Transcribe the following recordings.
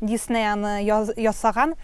Дисней аны ясаган.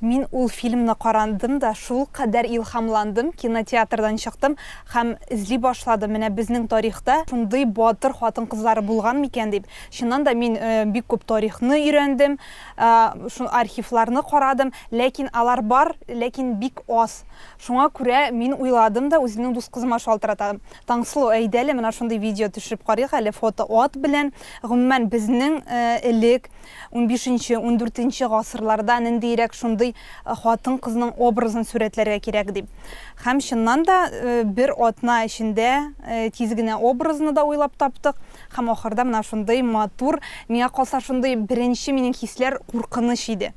Мин ул фильмны карандым да, шул кадәр илһамландым, кинотеатрдан чыктым һәм эзли башладым, менә безнең тарихта шундый батыр хатын-кызлары булган микән дип. Чыннан да, мин бик күп тарихны өйрәндем, шул архивларны карадым, ләкин алар бар, ләкин бик аз. Шуңа күрә мин уйладым да, үземнең дус кызыма шалтыратам. Таңсылу, әйдә әле, менә шундый видео төшереп карыйк әле, фото ат белән, гомумән, безнең элек унбишенче, ундүртенче гасырларда ниндиерәк шундый хатын-кызның образын сурәтләргә кирәк дип. Һәм чыннан да бер атна эчендә тиз генә образны да уйлап таптык. Һәм ахырда менә шундый матур, миңа калса шундый беренче минем хисләр куркыныч иде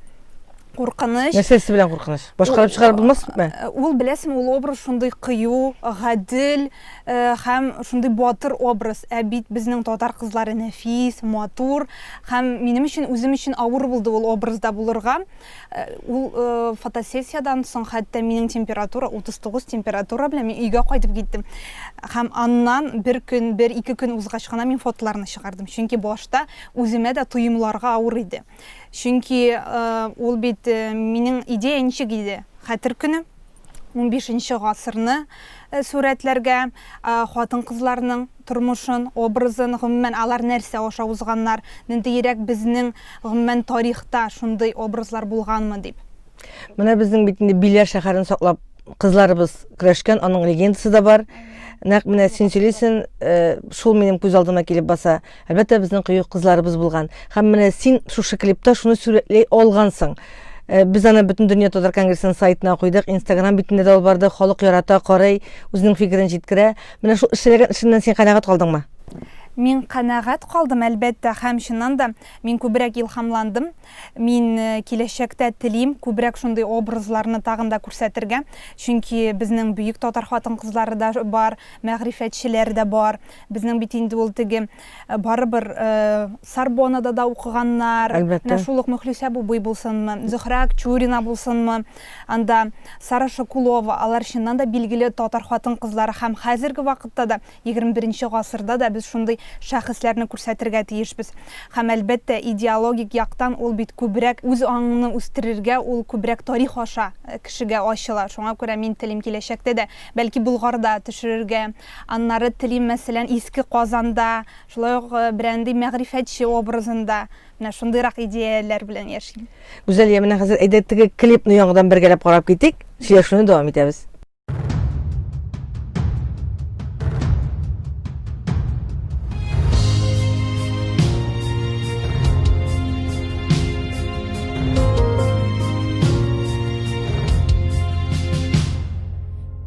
куркыныч нәрсәсе белән куркыныч башкарып чыгарып булмас ул беләсең ул образ шундый кыю гадел Һәм шундый батыр образ. Ә бит безнең татар кызлары нәфис, матур. Һәм минем өчен, үзем өчен авыр булды ул образда булырга. Ул фотосессиядән соң хәтта минем температура 39 температура белән мин өйгә кайтып киттем. Һәм аннан бер көн, бер ике көн узгач кына мин фотоларны чыгардым. Чөнки башта үземә дә тоемларга авыр иде. Чөнки ул бит минем идея ничек иде? Хәтер көне, унбишенче гасырны сурәтләргә, хатын-кызларның тормышын, образын, гомумән, алар нәрсә аша узганнар, ниндиерәк безнең, гомумән, тарихта шундый образлар булганмы дип. Менә безнең бит инде Биләр шәһәрен саклап кызларыбыз көрәшкән, аның легендасы да бар. Нәкъ менә син сөйлисен, шул минем күз алдыма килеп баса. Әлбәттә, безнең кыю кызларыбыз булган. Һәм менә син шушы клипта шуны сүрәтләй алгансың. Э, без аны бөтен дөнья татар конгрессының сайтына куйдык инстаграм битендә дә алып барды халык ярата карый үзенең фикерен җиткерә менә шул эшләгән эшеннән син канәгать калдыңмы Мин канәгать калдым, әлбәттә, һәм чыннан да мин күбрәк илһамландым. Мин э, киләчәктә телим күбрәк шундый образларны тагын да күрсәтергә, чөнки безнең бөек татар хатын-кызлары да бар, мәгърифәтчеләр дә бар. Безнең бит инде ул теге барыбер Сорбоннада да укыганнар. Әлбәттә. Менә шул ук Мөхлисә Бубый булсынмы, Зөһрә Акчурина булсынмы, анда Сара Шакулова, алар чыннан да билгеле татар хатын-кызлары һәм хәзерге вакытта да, 21 гасырда да без шундый шәхесләрне күрсәтергә тиешбез. Һәм, әлбәттә, идеологик яктан ул бит күбрәк үз аңыңны үстерергә, ул күбрәк тарих аша кешегә ачыла. Шуңа күрә мин телим киләчәктә дә, бәлки Болгарда төшерергә, Аннары телим, мәсәлән, Иске Казанда, шулай ук берәндый мәгърифәтче образында, менә шундыйрак идеяләр белән яшим. Гүзәл, я менә хәзер әйдә теге клипны яңадан бергәләп карап китик, сөйләшүне дәвам итәбез.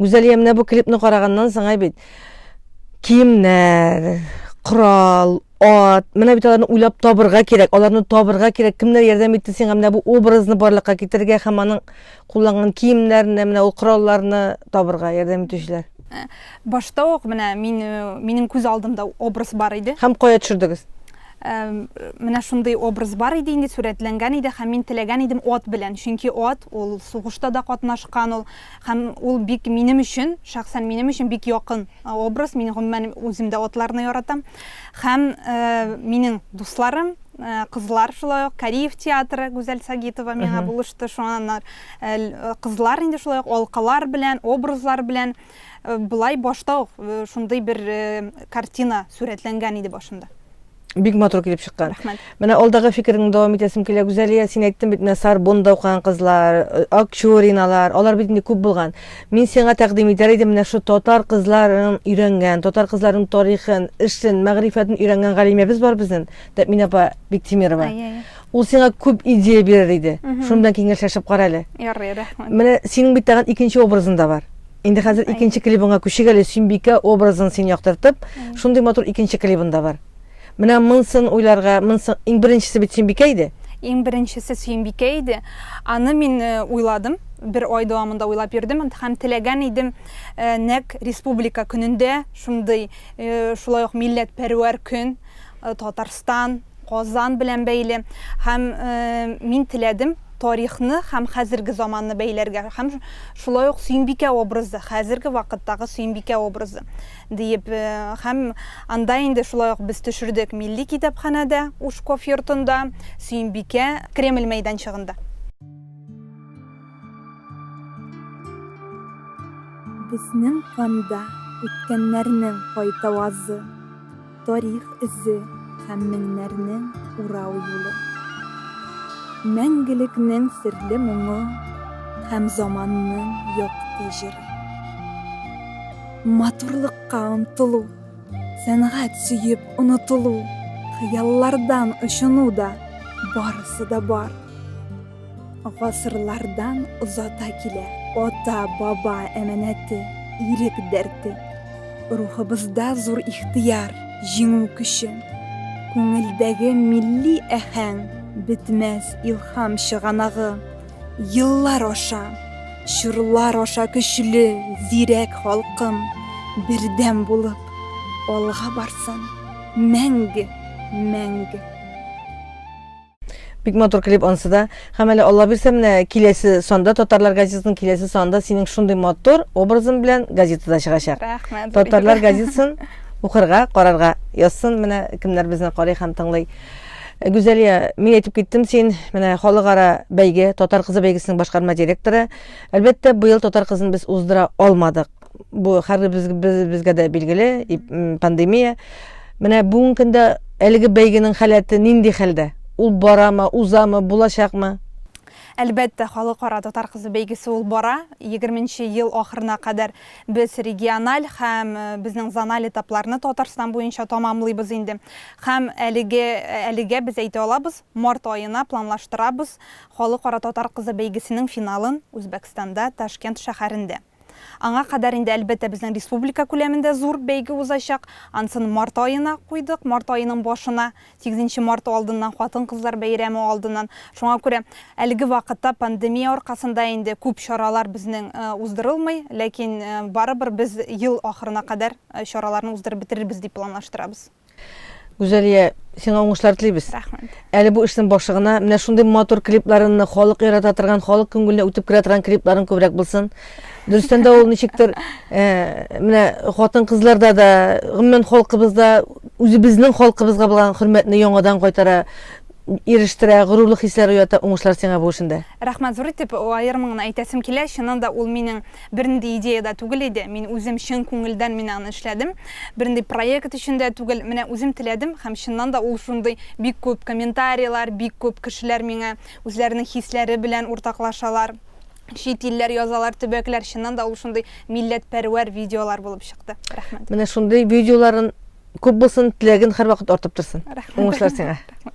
Гүзәлия, менә бу клипны караганнан соң ай бит киемнәр, корал, ат, менә бит аларны уйлап табырга кирәк, аларны табырга кирәк. Кемнәр ярдәм итте сиңа менә бу образны барлыкка китерергә һәм аның кулланган киемнәрен, менә ул коралларны табырга ярдәм итүчеләр? Башта ук менә мин, минем күз алдымда образ бар иде. Һәм кая төшердегез? Менә шундый образ бар иде инде, сурәтләнгән иде һәм мин теләгән идем ат белән, чөнки ат ул сугышта да катнашкан ул һәм ул бик минем өчен, шәхсән минем өчен бик якын образ, мин гомумән үзем дә атларны яратам. Һәм минем дусларым, Э, кызлар шулай ук кариев театры гүзәл сагитова миңа булышты шуңаннар э, кызлар инде шулай ук алкалар белән образлар белән Э, былай башта ук э, шундый бер э, картина сурәтләнгән иде башымда бик матур килеп чыккан рәхмәт менә алдагы фикереңне дәвам итәсем килә гүзәлия син әйттең бит менә сарбонда укыган кызлар акчуриналар алар бит инде күп булган мин сиңа тәкъдим итәр идем менә шу татар кызларын өйрәнгән татар кызларының тарихын эшен мәгърифәтен өйрәнгән галимәбез бар безнең тәмин апа биктимирова Ул сиңа күп идея бирер иде. Шуның белән киңәшләшеп кара әле. Ярый, рәхмәт. Менә синең бит тагын икенче образың да бар. Инде хәзер икенче клибыңа күчик әле, Сөембикә образын син яктыртып, шундый матур икенче клибың да бар. Менә монсын уйларга, монсын иң беренчесе бит Сөембикә иде. Иң беренчесе Сөембикә иде. Аны мин э, уйладым, бер ай дәвамында уйлап йөрдем һәм теләгән идем э, нәк республика көнендә шундый, э, шулай ук милләтпәрвәр көн, Татарстан Казан белән бәйле һәм мин теләдем тарихны һәм хәзерге заманны бәйләргә һәм шулай ук Сөембикә образы, хәзерге вакыттагы Сөембикә образы диеп һәм анда инде шулай ук без төшердек милли китапханәдә, Ушков йортында, Сөембикә, Кремль мәйданчыгында. Безнең канда үткәннәрнең кайтавазы, Тарих эзе һәм меңнәрнең урау юлы. Мәңгелекнең серле моңы һәм заманның якты җыры. Матурлыкка омтылу, сәнгать сөеп онытылу, хыяллардан очыну да, барысы да бар. Гасырлардан озата килә. Ата, баба әманәте, ирек дәрте. Рухыбызда зур ихтыяр, җиңү көче. Күңелдәге милли әхәң, бетмәс илхам чыганагы. Еллар аша, чорлар аша көчле, зирәк халкым, бердәм булып, алга барсын, мәңге, мәңге! Бик матур клип ансы да. Һәм әле Алла бирсә, менә киләсе санда Татарлар газетасының киләсе санда синең шундый матур образың белән газетада чыгачак. Рәхмәт. Татарлар газетасын укырга, карарга язсын менә кемнәр безне карый һәм тыңлый. Э, Гүзәлия, мин әйтеп киттем син, менә халыкара бәйге, татар кызы бәйгесенең башкарма директоры. Әлбәттә, быел татар кызын без уздыра алмадык. бу хәзер без, без, безгә дә билгеле пандемия. Менә бүгенге көндә әлеге бәйгенең халәте нинди хәлдә? Ул барамы, узамы, булачакмы? Әлбәттә, халыкара татар кызы бәйгесе ул бара. 20 ел ахырына кадәр без региональ һәм э, безнең зональ этапларны Татарстан буенча тамамлыйбыз инде. Һәм әлеге әлегә без әйтә алабыз, март аена планлаштырабыз халыкара татар кызы бәйгесенең финалын Үзбәкстанда, Ташкент шәһәрендә. Аңа кадәр инде, әлбәттә, безнең республика күләмендә зур бәйге узачак. Ансын март аена куйдык, март аеның башына, 8 нче март алдыннан, хатын-кызлар бәйрәме алдыннан. Шуңа күрә әлеге вакытта пандемия аркасында инде күп чаралар безнең уздырылмый, ләкин барыбер без ел ахырына кадәр чараларны уздырып бетерербез дип планлаштырабыз. Гүзәлия, сиңа уңышлар телибез. Рәхмәт. Әле бу эшнең башлыгына менә шундый матур клипларыңны халык ярата торган, халык күңеленә үтеп керә торган клипларың күбрәк булсын. Дөрестән дә ул ничектер э, менә хатын-кызларда да, гомумән халкыбызда үзебезнең халкыбызга булган хөрмәтне яңадан кайтара, ирештерә, горурлык хисләре уята. Уңышлар сиңа бу эшендә. Рәхмәт зур итеп аерым гына әйтәсем килә. Чыннан да ул минем Бернинди идея дә түгел иде, мин үзем чын күңелдән мин аны эшләдем. Бернинди проект өчен дә түгел, менә үзем теләдем һәм чыннан да ул шундый. Бик күп комментарийлар, бик күп кешеләр миңа үзләренең хисләре белән уртаклашалар. Чит илләр язалар, төбәкләр, чыннан да ул шундый милләтпәрвәр видеолар булып чыкты. Рәхмәт. Менә шундый видеоларын күп булсын, теләгең һәрвакыт артып торсын. Рәхмәт. Уңышлар сиңа. Рәхмәт.